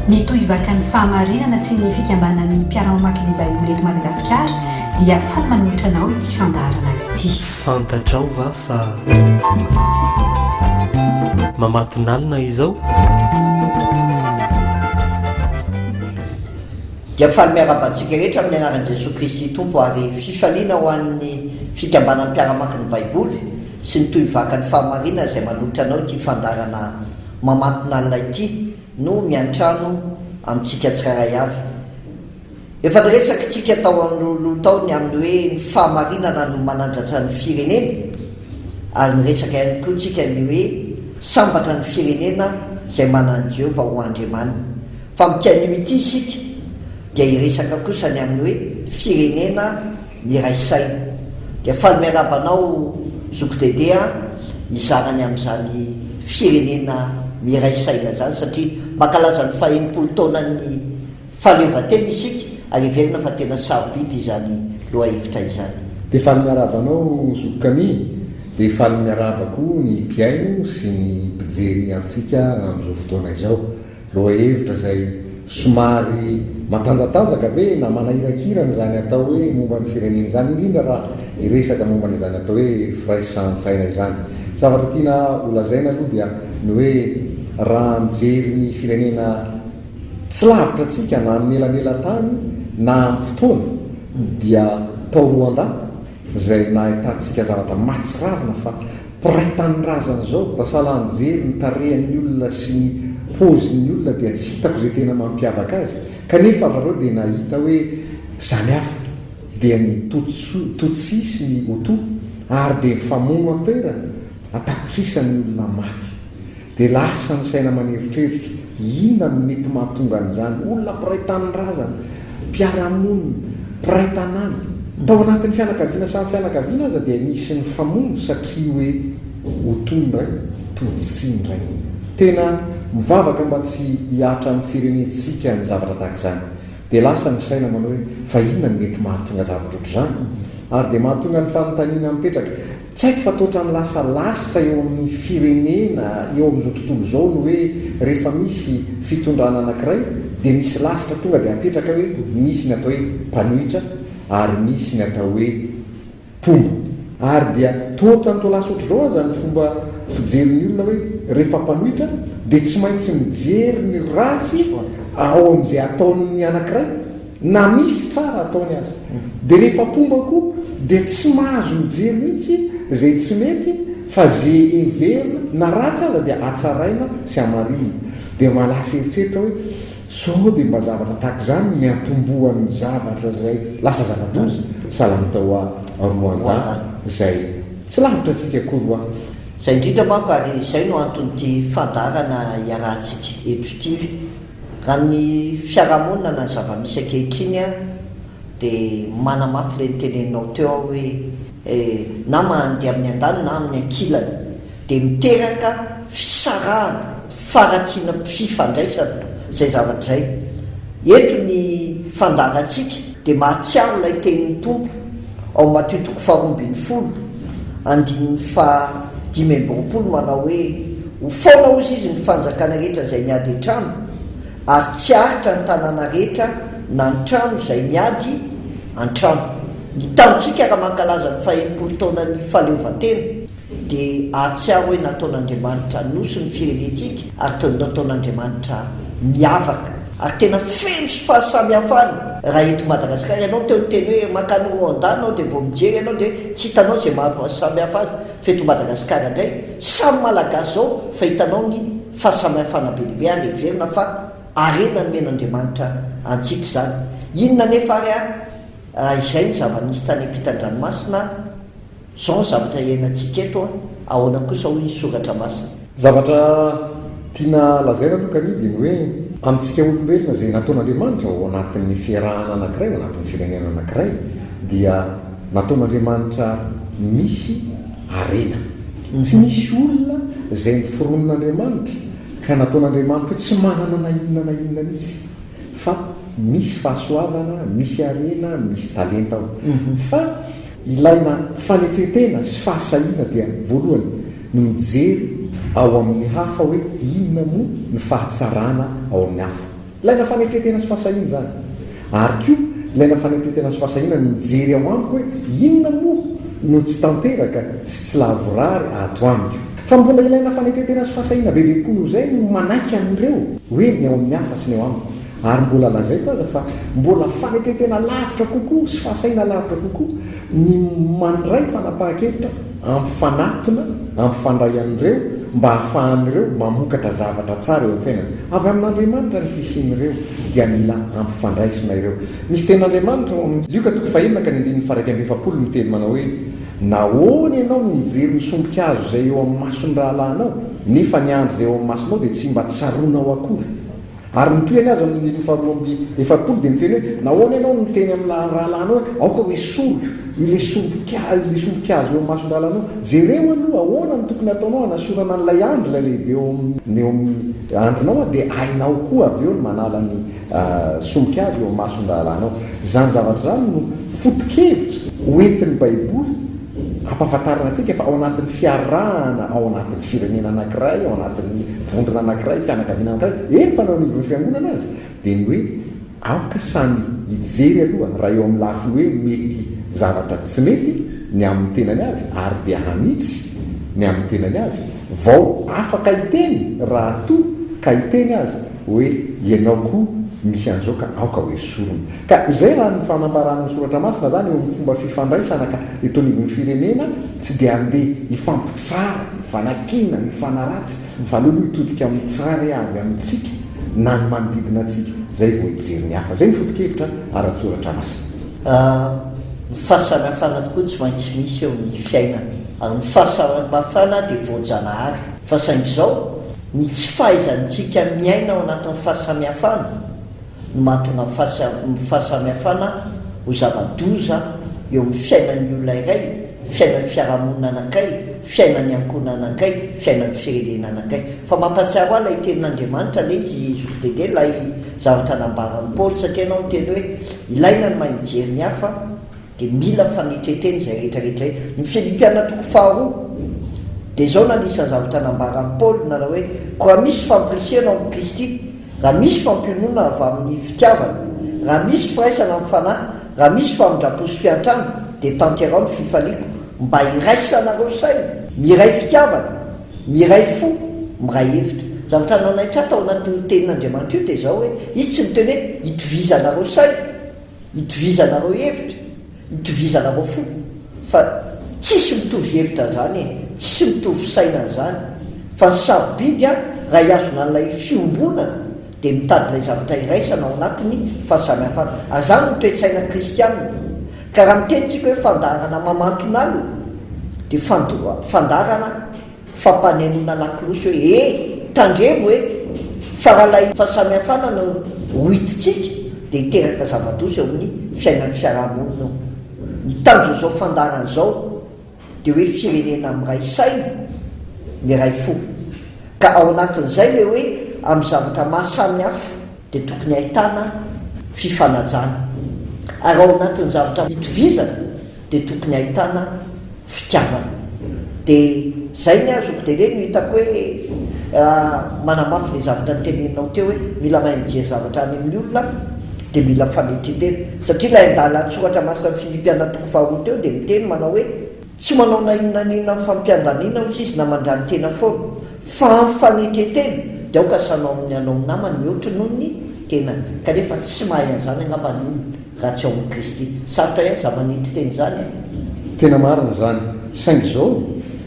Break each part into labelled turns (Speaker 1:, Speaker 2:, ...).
Speaker 1: Mitohy vaka ny fahamarinana sy ny fikambanan'ny mpiara-mamaky ny Baiboly eto Madagasikara dia faly manolotra anao ity fandaharana ity. Fantatrao va
Speaker 2: fa mamatonalina izao?
Speaker 3: Dia faly miarahaba antsika rehetra amin'ny anaran'i Jesoa Kristy Tompo ary fifaliana ho an'ny fikambanan'ny mpiara-mamaky ny Baiboly sy ny tohivakan'ny fahamarinana izay manolotra anao ity fandaharana mamatonalina ity no miantrano amintsika tsirairay avy. Efa niresakitsika tao anoloha tao ny amin'ny hoe ny fahamarinana no manandratra ny firenena ary niresaka ihany koa tsika ny hoe sambatra ny firenena izay manana an'i Jehovah ho Andriamaniny. Fa amin'ity anio ity isika dia hiresaka kosa ny amin'ny hoe firenena Miray saina. Dia faly miarahaba anao zoky Dédé a, hizara ny amin'izany firenena miray saina izany satria mankalaza ny fahenimpolo taonan'ny fahaleovantena isika ary heverina fa tena sarobidy izany lohahevitra izany. Dia faly miarahaba
Speaker 4: anao zoky Camille, dia faly miarahaba koa ny mpihaino sy ny mpijery antsika amin'izao fotoana izao. Lohahevitra izay somary matanjatanjaka ve na manahirakirana izany atao hoe momba ny firenena izany, indrindra raha hiresaka momba an'izany atao hoe firaisan-tsaina izany. Ny zavatra tiana ho lazaina aloha dia ny hoe raha mijery ny firenena tsy lavitra antsika na amin'ny elanelan-tany na amin'ny fotoana dia tao Rwanda, izay nahitantsika zavatra mahatsiravina fa mpiray tanindrazana izao, raha sahala nijery ny tarehin'ny olona sy ny paozin'ny olona dia tsy hitako izay tena mampiavaka azy, kanefa avy areo dia nahita hoe izany hafa dia ny Tutsu, Tutsi sy ny Hutu ary dia mifamono an-toerana, an-tapitrisany ny olona maty. Dia lasa ny saina maneritreritra, inona no mety mahatonga an'izany? Olona mpiray tanindrazana, mpiara-monina, mpiray tanàna. Tao anatin'ny fianakaviana samy fianakaviana aza dia misy ny famono satria hoe ho toy ny ray toa tsy ny ray mihitsy. Tena mivavaka mba tsy hihatra amin'ny firenentsika ny zavatra tahaka izany. Dia lasa ny saina manao hoe fa inona no mety mahatonga zavatra ohatr'izany? Ary dia mahatonga ny fanontaniana mipetraka, Tsy haiko fa toa otrany lasa lasitra eo amin'ny firenena eo amin'izao tontolo izao ny hoe rehefa misy fitondrana anankiray dia misy lasitra tonga dia apetraka hoe misy ny atao hoe mpanohitra ary misy ny atao hoe mpomba. Ary dia toa otrany toa lasa otr'izao aza ny fomba fijerin'ny olona hoe rehefa mpanohitra dia tsy maintsy mijery ny ratsy ao amin'izay ataon'ny anankiray Na misy tsara ataony aza dia rehefa mpomba koa dia tsy mahazo mijery mihitsy izay tsy mety fa izay heverina na ratsy aza dia hatsaraina sy hamarihina. Dia mba lasa eritreritra hoe sao dia mba zavatra tahaka izany no niantombohan'ny zavatra izay lasa zava-doza sahala ny tao Rwanda izay tsy lavitra antsika akory hoa. Izay indrindra
Speaker 3: manko ary izay no anton'ity fandaharana iarahantsika eto ity. Raha ny fiarahamonina na ny zava-misy ankehitriny dia manamafy ilay noteneninao teo aho hoe eh, na mandeha amin'ny andaniny na amin'ny ankilany dia miteraka fisarahana, faharatsiana am fifandraisana izay zavatra izay. Eto ny fandaharantsika dia mahatsiaro ilay tenin'ny Tompo Ao Matio toko faharoa ambin'ny folo, andininy faha dimy amby roapolo manao hoe, Ho foana hozy izy ny fanjakana rehetra izay miady an-trano, ary tsy haharitra ny tanàna rehetra na ny trano izay miady an-trano. Ny tanjontsika raha mankalaza ny fahenimpolo taonan'ny fahaleovantena. Dia ahatsiaro hoe nataon'Andriamanitra nosy ny firenentsika ary toy ny nataon'Andriamanitra miavaka ary tena feno sy fahasamihafana raha eto Madagasikara ianao teo niteny hoe mankany Rwanda ianao dia vao mijery ianao dia tsy hitanao izay mahasamihafa azy fa eto Madagasikara indray samy Malagasy izao fa hitanao ny fahasamihafana be dia be ary heverina fa harena nomen'Andriamanitra antsika izany inona anefa ary ary izay no zava-nisy tany am-pitan-dranomasina Izao ny zavatra iainantsika eto an! Ahoana kosa hoy ny Soratra Masina? Zavatra
Speaker 4: tiana lazaina aloha kani dia ny hoe amintsika olombelona izay nataon'Andriamanitra ao anatin'ny fiarahana anankiray, ao anatin'ny firenena anankiray dia nataon'Andriamanitra misy harena. Tsy misy olona izay noforonin'Andriamanitra ka nataon'Andriamanitra hoe tsy manana na inona na inona mihitsy fa misy fahasoavana, misy harena, misy talenta ao. Fa. Ilaina fanetren-tena sy fahasahiana dia voalohany ny mijery ao amin'ny hafa hoe inona moa ny fahatsarana ao amin'ny hafa. Ilaina fanetren-tena sy fahasahiana izany. Ary koa ilaina fanetren-tena sy fahasahiana ny mijery ao amiko hoe inona moa no tsy tanteraka sy tsy lavorary ato amiko. Fa mbola ilaina fanetren-tena sy fahasahiana bebe kokoa noho izay ny manaiky an'ireo hoe ny ao amin'ny hafa sy ny ao amiko. Ary mbola lazaiko aza fa mbola fanetren-tena lavitra kokoa sy fahasahiana lavitra kokoa ny mandray fanapahan-kevitra ampifanatona, ampifandray an'ireo mba hahafahan'ireo mamokatra zavatra tsara eo amin'ny fiainana. Avy amin'Andriamanitra ny fisian'ireo dia mila ampifandraisina ireo. Misy tenin'Andriamanitra ao amin'ny Lioka toko fahenina ka ny andininy faha iraika amby efapolo no miteny manao hoe, Nahoana ianao no mijery ny sombin-kazo izay eo amin'ny mason'ny rahalahinao, nefa ny andry izay eo amin'ny masonao dia tsy mba tsaroanao akory? Ary ny tohiny aza amin' ny andininy faharoa amby efapolo dia niteny hoe, Nahoana ianao no miteny amin' ny rahalahinao hoe, Aoka ho esoriko ilay sombika, ilay sombika azo eo amin' ny mason-drahalahinao? Jereo aloha ahoana no tokony hataonao hanasorana an' ilay andry, ilay lehibe eo amin' ny eo amin' ny andrinao, dia hainao koa avy eo ny manala ny sombika azo eo amin' ny mason-drahalahinao. Izany zavatra izany no foto-kevitra hoentin' ny Baiboly. Ampahafantarina antsika fa ao anatin'ny fiarahana ao anatin'ny firenena anankiray, ao anatin'ny vondrona anankiray, fianakaviana anankiray, eny fa na eo anivon'ny fiangonana aza, dia ny hoe aoka samy hijery aloha raha eo amin'ny lafiny hoe mety zavatra tsy mety ny amin'ny tenany avy ary dia hanitsy ny amin'ny tenany avy vao afaka hiteny raha toa ka hiteny aza. Hoe ianao koa misy an'izao ka aoka ho esorina. Ka izay raha ny fanambaran'ny soratra masina zany eo amin'ny fomba fifandraisana ka eto anivon'ny firenena tsy dia andeha hifampitsara, hifanakiana, hifanaratsy fa aleo aloha hitodika amin'ny tsirairay avy amintsika na ny manodidina antsika zay vao hijery ny hafa. Zay ny foto-kevitra ara-tsoratra masina. Ny
Speaker 3: fahasamihafana tokoa tsy maintsy misy eo amin'ny fiainana ary ny fahasamihafana dia voajanahary fa saingy izao Ny tsy fahaizantsika miaina ao anatin'ny fahasamihafana no mahatonga ny fahasamihafana ho zava-doza eo amin'ny fiainan'ny olona iray, fiainan'ny fiarahamonina anankiray, fiainan'ny ankohonana anankiray, fiainan'ny firenena anankiray. Fa mampahatsiaro ahy ilay tenin'Andriamanitra le izy Zokidede, ilay zavatra nambaran'i Paoly, satria ianao niteny hoe ilaina ny mahay mijery ny hafa, Dia mila fanetretena izay rehetra rehetra izay. Ny Filipiana toko faharoa. Dia izao no anisan'ny zavatra nambaran'i Paoly, nanao hoe, Koa raha misy fampirisihana ao amin'i Kristy, raha misy fampionona avy amin'ny fitiavana, raha misy firaisana amin'ny fanahy, raha misy famindram-po sy fiantrana, dia tanterao ny fifaliako, mba hiraisanareo saina, miray fitiavana, miray fo, miray hevitra. Ny zavatra nanaitra ahy tao anatin'io tenin'Andriamanitra io dia izao hoe, Izy tsy niteny hoe, Itovizanareo saina. Itovizanareo hevitra, itovizanareo fo fa tsisy mitovy hevitra zany e, tsisy mitovy saina zany fa ny sarobidy an raha hiazona an'ilay fiombonana dia mitady ilay zavatra iraisana ao anatiny fahasamihafana ary zany no toe-tsaina kristianina ka raha miteny tsika hoe fandaharana mamantona alina dia fandaharana Fampanenoana lakolosy hoe e! tandremo hoe fa raha ilay fahasamihafana no hoidintsika dia hiteraka zava-doza eo amin'ny fiainan'ny fiarahamonina eo. Ny tanjon'izao fandaharana izao dia hoe firenena miray saina, miray fo. Ka ao anatin'izay ilay hoe amin'ny zavatra maha samy hafa. dia tokony ahitana fifanajana ary ao anatin'ny zavatra itovizana dia tokony ahitana fitiavana dia zay ny azoko dia reny no hitako hoe manamafy le zavatra niteneninao teo hoe mila mahay mijery zavatra any amin'ny olona dia mila mifanetritena satria ilay andalan-tsoratra masinan'i Filipiana toko faharoa teo dia miteny manao hoe Tsy manao na inona na inona amin'ny fampiandaniana hoy izy na mandrany tena foana, fa amin'ny fanetren-tena dia aoka sanao amin'ny hanao namany ny hoatry noho ny tenany, kanefa tsy mahay an'izany angamba ny olona raha tsy ao amin'i Kristy. Sarotra ihany za manitry teny izany eh! Tena marina
Speaker 4: izany, saingy izao,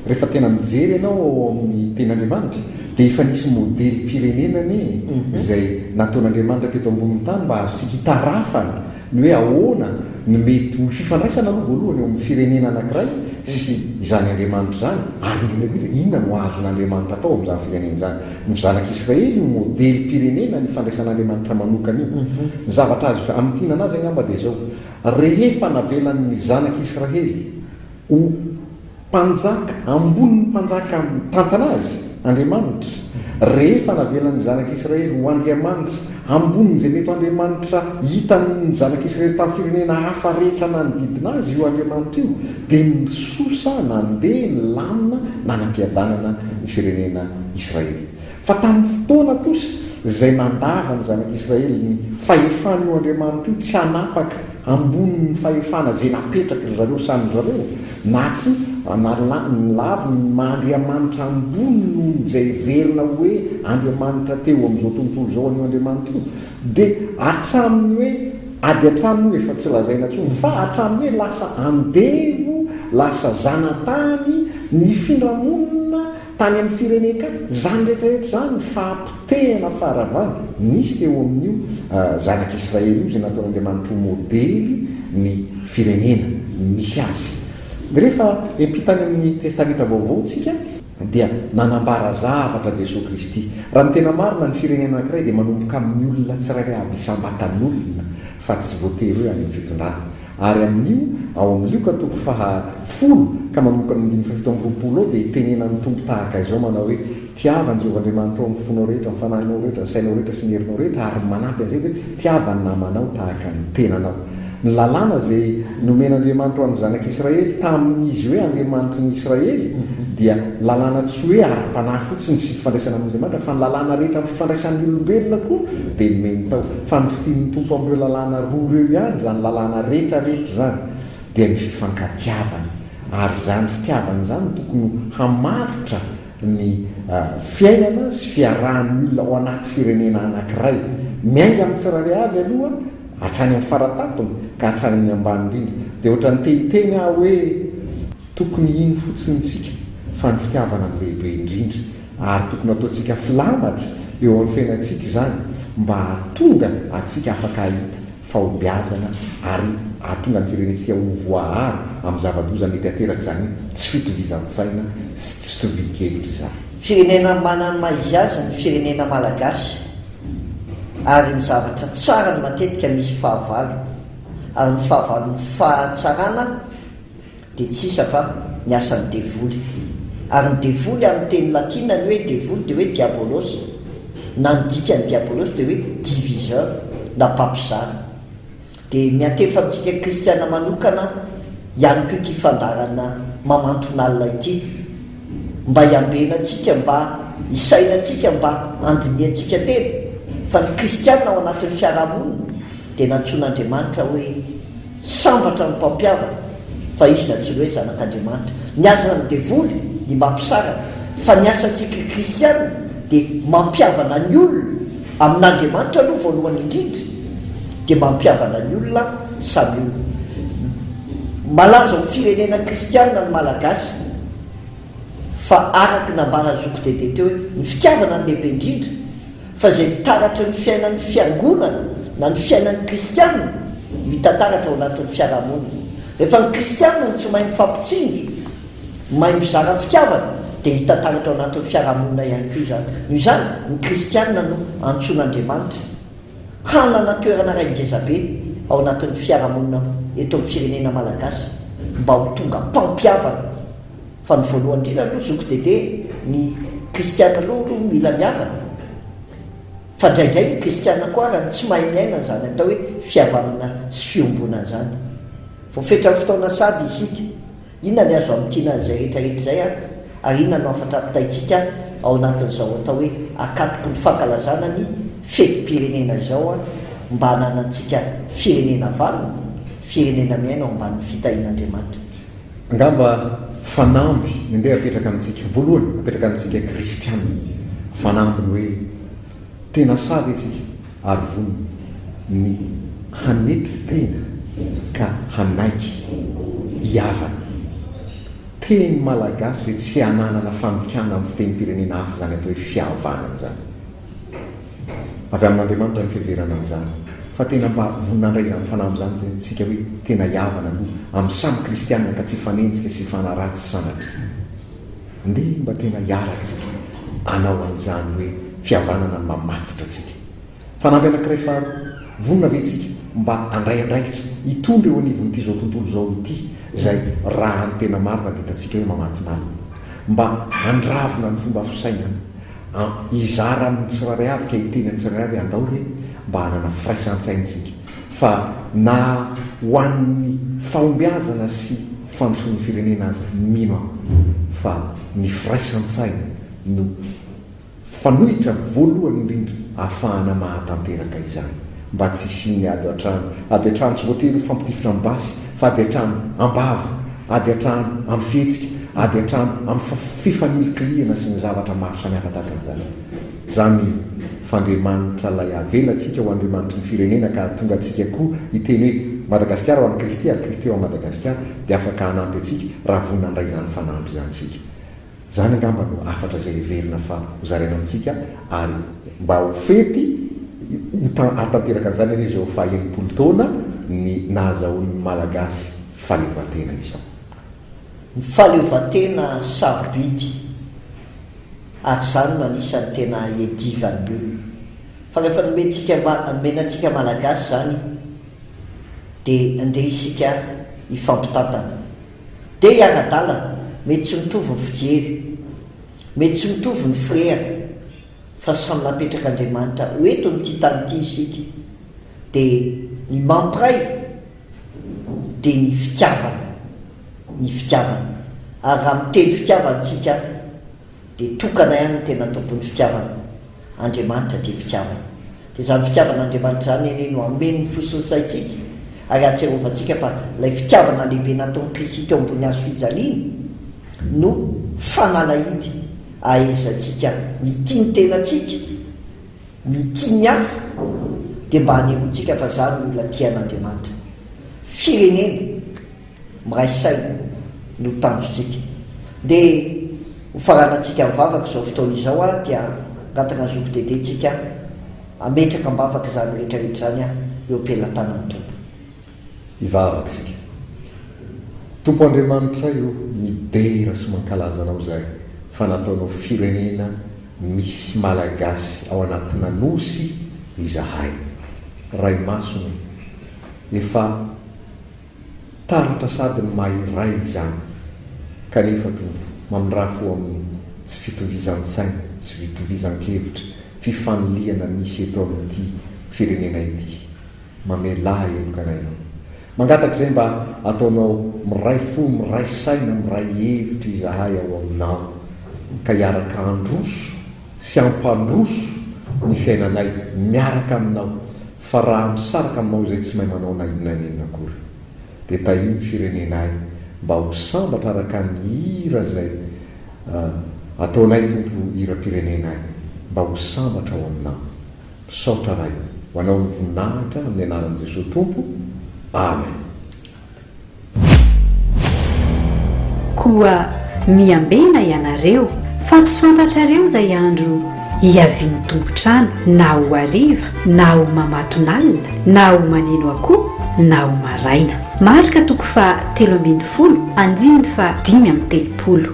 Speaker 4: rehefa tena mijery ianao ao amin'ny Tenin'Andriamanitra, dia efa nisy modelim-pirenena anie izay nataon'Andriamanitra teto ambonin'ny tany mba hahazotsika hitarafana Ny hoe ahoana ny mety ho fifandraisana aloha voalohany eo amin'ny firenena anankiray sy izany Andriamanitra izany, ary indrindra indrindra inona no azon'Andriamanitra atao amin'izany firenena izany. Ny zanak'Israely no modelim-pirenena ny fandraisan'Andriamanitra manokana io. Ny zavatra azo hamintinana azy angamba dia izao, rehefa navelan'ny zanak'Israely ho. Mpanjaka, ambonin'ny mpanjaka mitantana azy, Andriamanitra. Rehefa navelan'ny Zanak'i Israely ho Andriamanitra, ambonin'izay mety ho Andriamanitra hitan'ny Zanak'i Israely tamin'ny firenena hafa rehetra nanodidina azy io Andriamanitra io, dia nisosa, nandeha, nilamina, nanam-piadanana ny firenena Israely. Fa tamin'ny fotoana kosa izay nandava ny zanak'Israely ny fahefan'io Andriamanitra io tsy hanapaka ambonin'ny fahefana izay napetraky ry zareo samy ry zareo, na koa nalany laviny ny maha Andriamanitra ambony noho ny izay heverina hoe Andriamanitra teo amin'izao tontolo izao an'io Andriamanitra io, dia hatramin'ny hoe ady hatrany moa efa tsy lazaina intsony, fa hatramin'ny hoe lasa andevo, lasa zanatany, nifindra monina, Tany amin'ny firenen-kafa, izany rehetrarehetra izany ny fahapotehana faharavana nisy teo amin'io Zanak'i Israely io, izay nataon'Andriamanitra ho modely ny firenena misy azy. Rehefa hiampita any amin'ny Testamenta Vaovao isika, dia nanambara zavatra Jesoa Kristy, Raha ny tena marina, ny firenena anankiray dia manomboka amin'ny olona tsirairay avy isam-batan'olona, fa tsy voatery hoe any amin'ny fitondrana, ary amin'io, ao amin'ny Lioka toko faha folo ka manomboka amin'ny andininy fahafito amby roapolo ao dia tenenan'ny Tompo tahaka izao manao hoe, Tiava an'i Jehovah Andriamanitrao amin'ny fonao rehetra, amin'ny fanahinao rehetra, ny sainao rehetra sy ny herinao rehetra, ary manampy an'izay dia hoe, Tiava ny namanao tahaka ny tenanao. Ny Lalàna izay nomen'Andriamanitra ho an'ny zanak'Israely tamin'izy hoe Andriamanitry ny Israely dia lalàna tsy hoe ara-panahy fotsiny sy fifandraisana amin'Andriamanitra fa ny lalàna rehetra amin'ny fifandraisan'ny olombelona koa dia nomeny tao Fa ny fidin'ny Tompo amin'ireo lalàna roa ireo ihany, izany lalàna rehetra rehetra izany, dia ny fifankatiavana. Ary izany fitiavana izany no tokony ho hamaritra ny fiainana sy fiarahan'ny olona ao anaty firenena anankiray, miainga amin'ny tsirairay avy aloha hatrany amin'ny fara-tampony ka hatrany amin'ny ambany indrindra. Dia ohatran'ny te-hiteny aho hoe tokony hino fotsiny isika fa ny fitiavana no lehibe indrindra. Ary tokony hataontsika filamatra eo amin'ny fiainantsika izany mba hahatonga antsika afaka hahita fahombiazana ary hahatonga ny firenentsika ho voaaro amin'ny zava-doza mety hateraka izany tsy fitovizan-tsaina sy tsy fitovian-kevitra izany. Firenena manana
Speaker 3: ny maha izy azy ny firenena Malagasy ary ny zavatra tsarany matetika misy fahavalo ary ny fahavalon'ny fahatsarana dia tsy isa fa ny asan'ny devoly. Ary ny devoly amin'ny teny latina ny hoe devoly dia hoe diabolos na ny dikan'ny diabolos dia hoe diviseur na mpampizara. Dia miantefa amintsika kristiana manokana ihany koa ity fandaharana mamanton'alina ity mba hiambenantsika, mba hisainantsika, mba handinihantsika tena fa ny kristiana ao anatin'ny fiarahamonina dia nantsoin'Andriamanitra hoe Sambatra ny mpampihavana fa izy na tsinona hoe zanak'Andriamanitra. Ny asan'ny devoly dia mba hampisaraka, fa ny asantsika kristiana dia mampihavana ny olona amin'Andriamanitra aloha voalohany indrindra dia mampihavana ny olona samy olona. Malaza ho firenena kristiana ny Malagasy fa araka ny nambaran'i Zoky Dede teo hoe ny fitiavana no lehibe indrindra, Fa izay taratry ny fiainan'ny Fiangonana na ny fiainan'ny Kristiana no hita taratra ao anatin'ny fiarahamonina. Rehefa ny Kristiana no tsy mahay mifampitsinjo, mahay mizara fitiavana, dia hita taratra ao anatin'ny fiarahamonina ihany koa izany. Noho izany, ny Kristiana no antsoin'Andriamanitra hanana toerana iray ngezabe ao anatin'ny fiarahamonina eto amin'ny firenena malagasy mba ho tonga mpampihavana. Fa ny voalohany indrindra aloha zoky Dédé, ny kristiana aloha aloha mila mihavana, fa indraindray ny kristiana koa ara tsy mahay miaina an'izany atao hoe fihavanana sy fiombonana izany. Voafetran'ny fotoana sady isika, inona ny azo amintiana an'izay rehetra rehetra izay ary ary inona no hafatra ampitaintsika ao anatin'izao atao hoe akatoky ny fankalazana ny fetim-pirenena izao mba hananantsika firenena vanona, firenena miaina ao ambanin'ny fitahian'Andriamanitra. Angamba
Speaker 4: fanamby ny ndeha apetraka amintsika, voalohany apetraka amintsika kristiana, fanamby ny hoe tena sahy ve isika ary vonona ny hanetry tena ka hanaiky hihavana. Teny malagasy izay tsy ananana fandikana amin'ny fitenim-pirenena hafa izany atao hoe fihavanana izany. Avy amin'Andriamanitra ny fiheverana izany fa tena mba vonona handray izany fanamby izany izay antsika hoe tena hihavana aloha amin'ny samy kristianina ka tsy hifanenjika sy hifanaratsy sanatria. Andeha mba tena hiaratsika hanao an'izany hoe fihavanana ny mamatotra antsika. Fanamby anankiray faharoa, vonona ve tsika mba handray andraikitra hitondra eo anivon'ity izao tontolo izao ity izay raha ny tena marina dia hitantsika hoe mamatonalina? Mba handravona ny fomba fisainana An, hizara amin'ny tsirairay avy ka hiteny amin'ny tsirairay avy andao re mba hanana firaisan-tsaintsika fa na ho an'ny fahombiazana sy fandrosoan'ny firenena aza mino aho fa ny firaisan-tsaina no fanohitra voalohany indrindra ahafahana mahatanteraka izany. mba tsy hisian'ny ady an-trano, ady an-trano tsy voatery ho fampitifitra amin'ny basy, fa ady an-trano am-bava, ady an-trano amin'ny fihetsika, ady an-trano amin'ny fifanilikilihana sy ny zavatra maro samihafa tahaka an'izany. Izany f'Andriamanitra ilay avela antsika ho Andriamanitry ny firenena ka hahatonga antsika koa hiteny hoe Madagasikara ho an'i Kristy ary Kristy ho an'i Madagasikara dia afaka hanampy antsika raha vonona handray izany fanampy izany isika. Izany angamba no hafatra izay heverina fa ho zaraina amintsika ary mba ho fety ho hahatanteraka an'izany anie izao faha enimpolo taona ny nahazahoan'ny Malagasy fahaleovantena izao. Ny
Speaker 3: fahaleovantena sarobidy ary izany no anisan'ny tena iadivan'ny olona fa rehefa nomentsika nomena antsika Malagasy izany dia ndeha isika hifampitantana. Dia i Anadalana, mety tsy mitovy ny fijery, mety tsy mitovy ny firehana, fa samy napetraka Andriamanitra ho eto amin'ity tany ity isika, dia ny mampiray dia ny fitiavana, ny fitiavana, ary raha miteny fitiavana isika dia tokana ihany ny tena tompon'ny fitiavana, Andriamanitra dia fitiavana. Dia izany fitiavan'Andriamanitra izany anie no hameno ny fo sy ny saintsika ary hahatsiarovantsika fa ilay fitiavana lehibe nataon'i Kristy teo ambony hazo fijaliana no fanalahidy ahaizantsika mitia ny tenantsika, mitia ny hafa, dia mba hanehoantsika fa izaho no olona tian'Andriamanitra. Firenena. Miray saina no tanjontsika. Ndeha ho faranantsika mivavaka izao fotoana izao aho dia angataka ny Zoky Dédé tsika hametraka am-bavaka izany rehetra rehetra izany eo am-pelatanan'ny Tompo. Hivavaka
Speaker 4: isika. Tompo Andriamanitray o, midera sy mankalaza Anao izay fa nataonao firenena misy Malagasy ao anatina Nosy izahay. Ray Masina o, efa. Taratra sady ny maha iray izany, kanefa toa mamindrafo amin'ny tsy fitovizan-tsaina, tsy fitovizan-kevitra, fifanilihana misy eto amin'ity firenena ity. Mamelà heloka anay ianao. Mangataka izay mba ataonao miray fo, miray saina, miray hevitra izahay ao aminao, ka hiaraka handroso sy hampandroso ny fiainanay miaraka aminao. Fa raha misaraka aminao izay tsy mahay manao na inona na inona akory. Dia tahio ny firenenay mba ho sambatra araka ny hira izay ataonay Tompo hiram-pirenenay mba ho sambatra ao aminao. Misaotra Ray. Ho anao ny voninahitra amin'ny anaran'i Jesoa Tompo. Amen.
Speaker 1: Koa miambena ianareo, fa tsy fantatrareo izay andro hiavian'ny tompon-trano, na ho hariva, na ho mamatonalina, na ho maneno akoho, na ho maraina. Marka toko faha telo ambin'ny folo, andininy faha dimy amby telopolo.